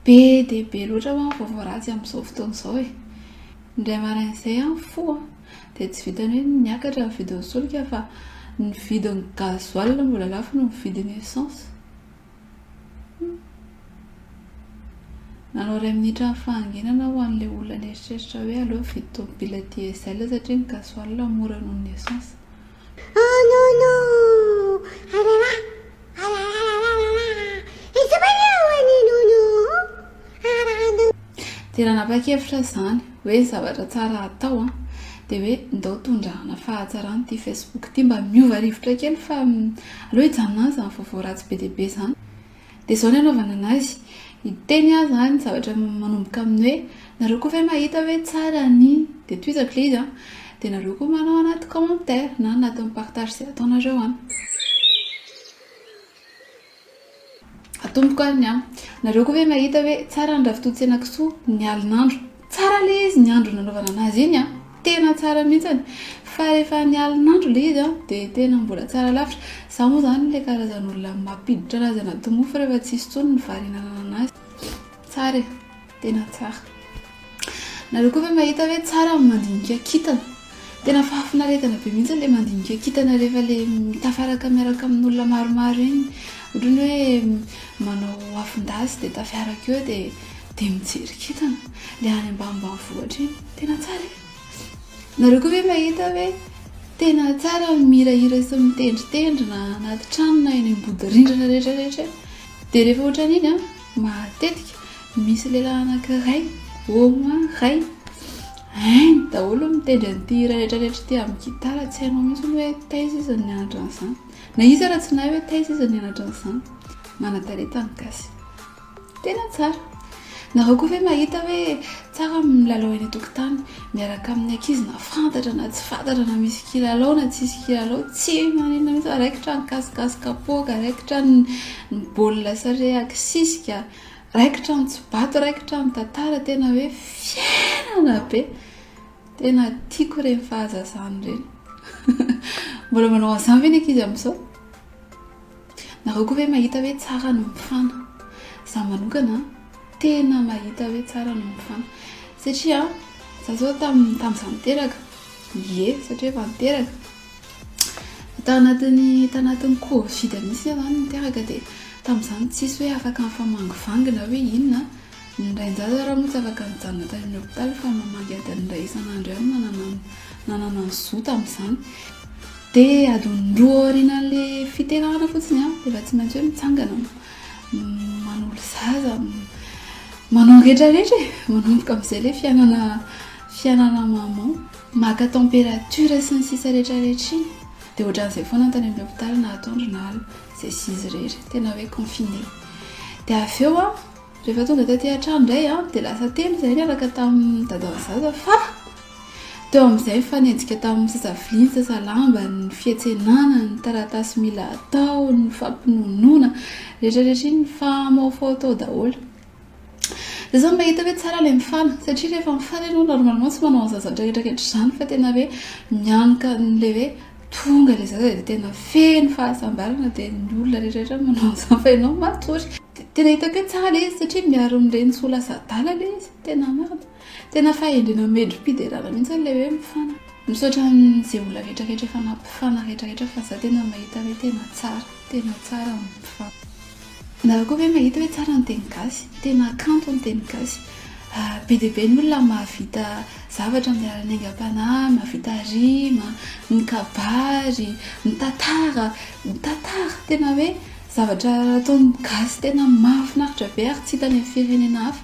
Be dia be loatra ho'a ny vaovao ratsy amin'izao fotoana izao e! indray maraina izay aho mifoha dia tsy vitan'ny hoe niakatra ny vidin'ny solika fa ny vidin'ny gasoil no mbola lafo noho ny vidin'ny essence, humm! nanao iray minitra ny fahanginana aho ho an'ilay olona nieritreritra hoe aleo hividy tomobila diesel satria ny gasoil mora noho ny essence. Oh non non! Alalà! Dia nanapa-kevitra aho izany hoe zavatra tsara hatao an, dia hoe ndao tondrahana fahatsarana ity Facebook ity mba miova rivotra kely fa aleo hijanona any izany vaovao ratsy be dia be izany. Dia izao ny hanaovana an'azy, hiteny aho izany zavatra manomboka amin'ny hoe. Nareo koa ve mahita hoe tsara ny, dia tohizako ilay izy an, dia nareo koa manao anaty commentaire na anatin'ny partage izay ataonareo an. Atomboko ary ny an. Nareo koa ve mahita hoe tsara ny ravitontsenakisoa ny alin'andro. Tsara ilay izy ny andro nanaovana anazy iny an, tena tsara mihintsany, fa rehefa ny alin'andro ilay izy an, dia tena mbola tsara lavitra. Izaho moa izany ilay karazan'olona mampiditra anazy anaty mofo rehefa tsy hisy intsony ny vary hihinanana anazy. Tsara e. Tena tsara. Nareo koa ve mahita hoe tsara ny mandinika kintana? Tena fahafinaretana be mihitsy ilay mandinika kintana rehefa ilay tafaraka miaraka amin'olona maromaro iny. Ohatran'ny hoe manao afon-dasy dia tafiaraka eo dia dia mijery kintana. Ilay any ambanimbanivohitra iny. Tena tsara e. Nareo koa ve mahita hoe tena tsara ny mihirahira sy mitendritendry na anaty trano na eny ambody rindrina rehetra rehetra eny. Dia rehefa ohatran'iny an. Matetika misy lehilahy anankiray, au moins iray, hainy daholo ny mitendry an'ity hira retraretra ity amin'ny gitara, tsy hainao mihitsy hoe taiza izy no nianatra an'izany, na iza ary tsy nahay hoe taiza izy no nianatra an'izany. Manan-talenta ny gasy. Tena tsara. Nareo koa ve mahita hoe Tsara ny milalao eny an-tokotany miaraka amin'ny ankizy na fantatra na tsy fantatra na misy kilalao na tsy misy kilalao, tsy maninona mihitsy fa raikitra ny kasikasy kapoaka, raikitra ny baolina sare akisisika, raikitra ny tsobato, raikitra ny tantara, tena hoe fiainana be. Tena tiako ireny fahazazana ireny. Mbola manao an'izany ve ny ankizy amin'izao? Nareo koa ve mahita hoe tsara ny mifana? Za manokana tena mahita hoe tsara ny mifana satria za zao tam tamza niteraka ye satria efa niteraka tao anatiny tao anatiny covid mihitsy za niteraka de tamzany tsisy hoe afaka mifamangivangy na hoe inona Ny rain-jaza ary moa tsy afaka nijanona tany amin'ny hopitaly fa mamangy adiny iray isan'andro ihany no nananany ny zo tamin'izany. Dia adiny roa aorianan'ilay fiterahana fotsiny dia efa tsy maintsy hoe mitsangana manolo zaza, manao ny rehetrarehetra e! Manomboka amin'izay ilay fiainana, fiainana maman, maka température sy ny sisa rehetrarehetra iny. Dia ohatran'izay foana ny tany amin'ny hopitaly na atoandro na alina, izay sy izy irery, tena hoe confiné. Dia avy eo an! Rehefa tonga taty an-trano indray aho dia lasa teny izahay niaraka tamin'ny dadao zaza fa teo amin'izay nifanenjika tamin'ny sasaviany, sasalambany, ny fiantsenana, ny taratasy mila atao, ny fampinonoana, rehetrarehetra iny nifamaofao tao daholo. Izaho izany mahita hoe tsara ilay mifana satria rehefa mifana ianao normalement tsy manao an'izany zavatra rehetrarehetra izany fa tena hoe mianoka an'ilay hoe tonga ilay zaza dia tena feno fahasambarana dia ny olona rehetrarehetra manao an'izany fa ianao matory. Tena hitako hoe tsara ilay izy satria miaro an'ireny tsy ho lasa adala ilay izy. Tena marina. Tena fahendrena mendri-piderana mihitsy ilay hoe mifana. Misaotra an'izay olona rehetra rehetra efa nampifana rehetra rehetra fa za tena mahita hoe tena tsara. Tena tsara ny mpifana. Nareo koa ve mahita hoe tsara ny teny gasy? Tena kanto ny teny gasy. Be dia be ny olona mahavita zavatra amin'ny alalan'ny aingam-panahy, mahavita rima, ny kabary, ny tantara, ny tantara. Tena hoe Zavatra ataon'ny gasy tena mahafinaritra be ary tsy hita any amin'ny firenena hafa.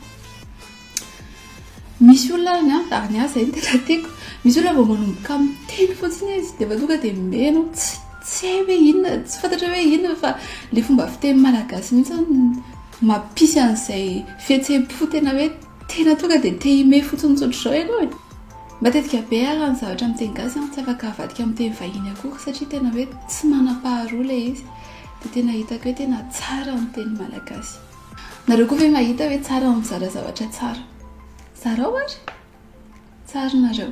Misy olona ary an, ary ny ahy izay no tena tiako, misy olona vao manomboka miteny fotsiny izy dia efa tonga dia mihaino, tsy tsy hay hoe inona, tsy fantatra hoe inona fa ilay fomba fiteny malagasy mihitsy no mampisy an'izay fihetseham-po tena hoe tena tonga dia te himehy fotsiny tsy ohatr'izao ianao e. Matetika be ary ny zavatra amin'ny teny gasy an, tsy afaka avadika amin'ny teny vahiny akory satria tena hoe tsy manam-paharoa ilay izy. Dia tena hitako hoe tena tsara ny teny malagasy. Nareo koa ve mahita hoe tsara ny mizara zavatra tsara? Zarao ary! Tsara nareo.